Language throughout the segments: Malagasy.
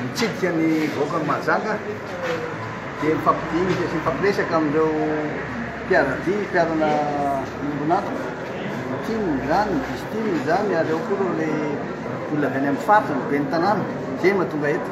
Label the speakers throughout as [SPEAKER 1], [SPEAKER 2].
[SPEAKER 1] Mitsidika ny vahoakan'i Mahajanga dia mifampidinika sy mifampiresaka amin'ireo mpiara-dia, mpiarana ombon'antoka, ny tim izany, ny vice tim izany ary ao koa ireo ilay olona avy any amin'ny faritra, ny ben'ny tanàna, izay no mahatonga eto.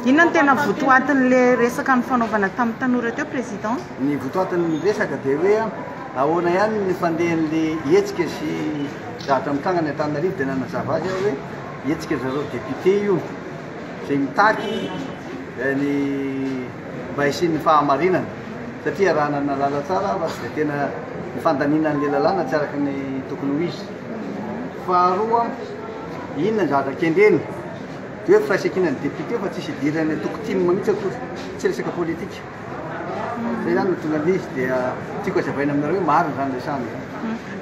[SPEAKER 1] Inona no
[SPEAKER 2] tena votoatin'ilay resaka nifanaovana tamin'ny tanora teo, Président? Ny votoatin'ny
[SPEAKER 1] resaka dia hoe ahoana ihany ny fandehan'ilay hetsika sy zavatra mitranga any Antananarivo dia nanazava azy aho hoe, Hetsika zareo député io izay mitaky ny mba hisian'ny fahamarinana satria raha nanalala tsara aho fa dia tena ny fandaniana an'ilay lalàna tsy araka ny tokony ho izy. Faharoa, inona ny zavatra kendrena? Dia hoe firaisankinan'ny député fa tsisy idiran'ny antoko tim mihitsy akory, tsy resaka politika. Zay zany no tonga an'izy dia tiako azavaina aminareo hoe marina zany resahana zany.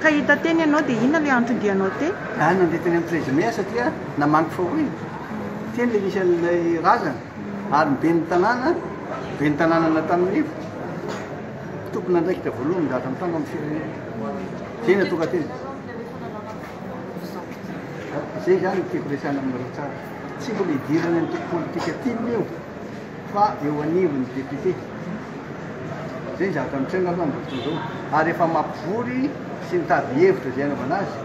[SPEAKER 1] Ka hita
[SPEAKER 2] teny ianao dia inona ilay antony dianao teny? Zah nandeha teny amin'ny
[SPEAKER 1] Présumé aho satria namaniko fa hoy teny ilay misy an'ilay razana ary ny ben'ny tanàna, ben'ny tanànan'Antaninivo, tompon'andraikitra voalohany migadra mitandro amin'ny firenena. Zay no tonga teny. Zay zany no tiako resahana aminareo tsara. Tsy mbola hidirana amin'ny politika tim io. fa eo anivon'ny député izay ny zavatra mitranga aloha amin'izao fotoana izao ary efa mampivory sy mitady hevitra izay anaovana azy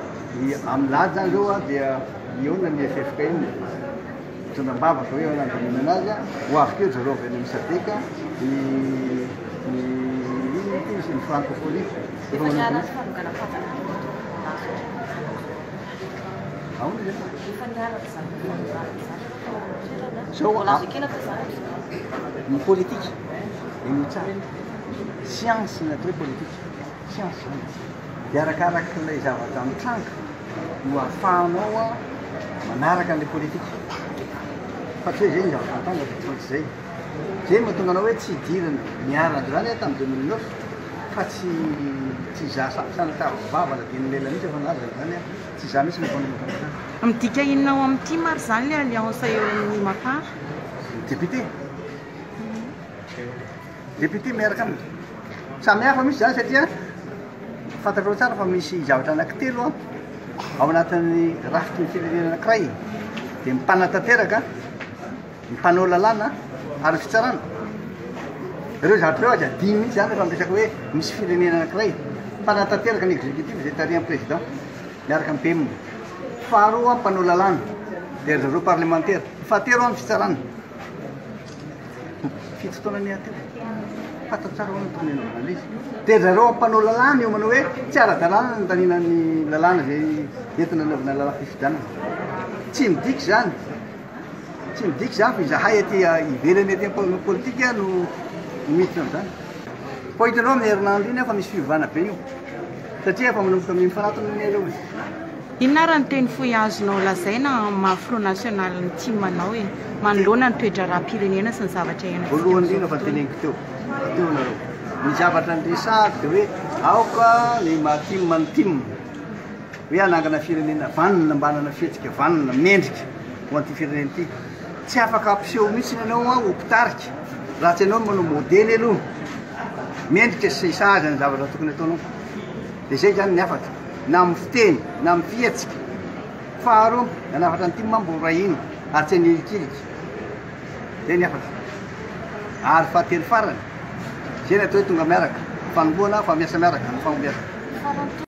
[SPEAKER 1] ny amin'ny lahady zany zao a dia mihaona ny FFKM mitondra am-bava fa hoe eo nandaminana azy a ho avy keo zareo avy any amin'ny sadec ny ny ny francophonie efa manao Aonde? Zao a, ny politika, henoy tsara, science ny atao hoe politika, science zany e, dia arakarak'ilay zavatra mitranga no ahafahanao a manaraka an'ilay politika, fa tsy hoe zay ny zavatra mitranga fa tsy maintsy zay, zay no mahatonga anao hoe tsy hidirana niarana androany aho tamin'ny deux mille neuf fa tsy tsy hizaha sa- sanatavy vava na dimy lela mihitsy aho fa nilaza izany aho. Tsy izany mihitsy no ataon'ny Mapar. Midika inona ao
[SPEAKER 2] amin'ny tim ary izany ilay alliance eo amin'ny Mapar? Ny député.
[SPEAKER 1] Député miaraka aminy. Samy hafa mihitsy izany satria fantatrao tsara fa misy zavatra anankitelo ao anatin'ny rafitry ny firenena anankiray dia mipanatanteraka. ny mpanao lalàna ary ny fitsarana. Ireo zavatra ireo aza adino mihitsy izany rehefa miresaka hoe misy firenena anankiray mpanatanteraka ny executif izay tarihan'ny président miaraka amin'ny PM. Faharoa, mpanao lalàna dia ry zareo parlemantera. Fahatelo, ny fitsarana. Fito taona ny aty. Fantatra tsara hono tourner ny analyse. Dia ry zareo mpanao lalàna io manao hoe tsy ara-dalàna ny tanina ny lalàna izay entina anaovana lalàna fifidianana. Tsy midika izany Tsy midika izany fa izahay aty ivelany aty amin'ny politika no miditra amin'izany. Koa hitanao amin'ny herinandro iny aho fa misy fiovana be io satria efa manomboka mifanatona ny elo e. Inona ary
[SPEAKER 2] ny teny fohy azonao lazaina amin'ny maha Front National ny tim anao e? Manoloana ny toe-draharaham-pirenena sy ny zavatra iainantsika amin'izao tontolo. Voalohany indrindra efa teneniko
[SPEAKER 1] teo, rahateo ianareo, ny zavatra niresahako dia hoe aoka ny maha tim ny tim. hoe hanangana firenena vanona mba hanana fihetsika vanona, mendrika ho an'ity firenena ity. Tsy afaka hampiseho mihitsy ianao ho mpitarika raha tsy ianao no manao modely aloha. Mendrika sy sahaza ny zavatra tokony ataonao. Dia izay izany ny hafatra, na amin'ny fiteny, na amin'ny fihetsika. Faharoa, nanafatra ny tim aho mbola iray iny, ary tsy hanilikilika. Izay ny hafatra. Ary fahatelo farany, izay ny atao hoe tonga miaraka, fanombohana fa miasa miaraka ny fahombiazana.